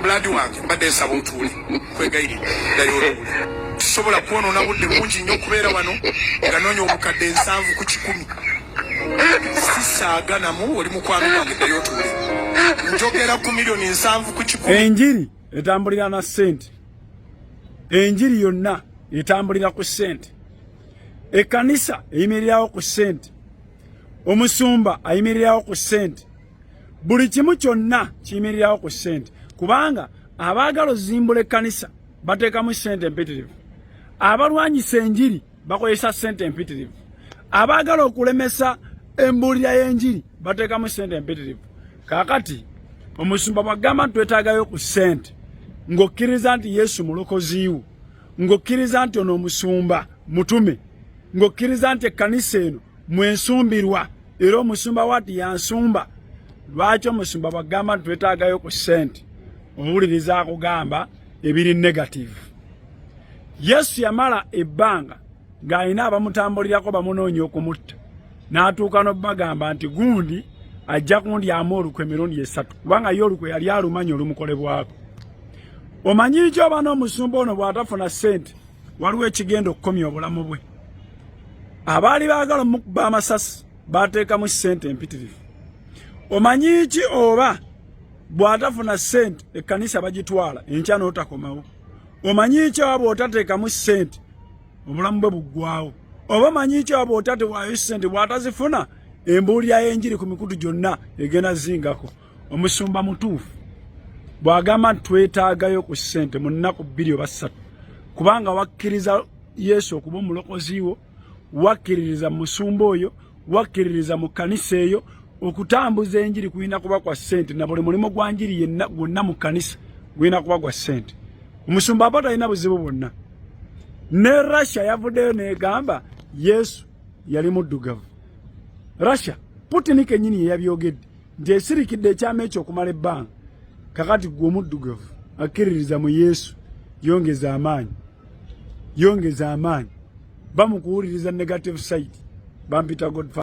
blood wange mbadde nsaba otuule kwegayiri dali oluuli tusobola kwonoona budde bungi nnyo okubeera wano nga noonya obukadde nsanvu ku kikumi sisaaga namu oli mukwano gwange dali otuule njogera ku miliyoni nsanvu ku kikumi enjiri etambulira na ssente enjiri yonna etambulira ku ssente ekkanisa eyimirirawo ku ssente omusumba ayimirirawo ku ssente buli kimu kyonna kiyimirirawo ku sente kubanga abaagala ozimbula ekkanisa bateekamu sente empitirivu abalwanyisa enjiri bakozesa sente empitirivu abaagala okulemesa embuulira y'enjiri bateekamu sente empitirivu kaakati omusumba bwagamba nti twetaagayo ku sente ng'okkiriza nti yesu mulokoziiwo ng'okkiriza nti ono omusumba mutume ng'okkiriza nti ekkanisa eno mwensumbirwa era omusumba wati yansumba lwaki omusumba bagamba nti twetaagayo ku sente owuliriza akugamba ebiri negative yesu yamala ebbanga ng'alina abamutambulirako bamunoonya okumutta n'atuuka n'obagamba nti gundi ajja kundyamu olukwe emirundi esatu kubanga ye olukwe yali alumanya olumukolebwako omanyi nti oba n'omusumba ono bw'atafuna sente waliwo ekigenda okukomya obulamu bwe abaali baagala mukuba amasasi baateekamu ssente empitirivu omanyi ki oba bw'atafuna ssente ekkanisa bagitwala enkya n'otakomawo omanyi ki oba bw'otateekamu ssente obulamu bwe buggwawo oba omanyi ki oba bw'otatewaayo ssente bw'atazifuna embuulira y'enjiri ku mikutu gyonna egenda zingako omusumba mutuufu bw'agamba nti twetaagayo ku ssente mu nnaku bbiri oba ssatu kubanga wakkiriza yesu okuba omulokozi wo wakkiririza mu musumba oyo wakkiririza mu kkanisa eyo okutambuza enjiri kulina kuba kwa ssente na buli mulimu gwa njiri yenna gwonna mu kkanisa gulina kuba gwa ssente omusumba aba talina buzibu bwonna ne russia yavuddeyo negamba yesu yali muddugavu russia putini kenyini yeyabyogedde nti esirikidde ekyama ekyo okumala ebbanga kakati gwe omuddugavu akkiririza mu yesu yongeza amaanyi yongeza amaanyi bamukuwuliriza negative side bampita godfather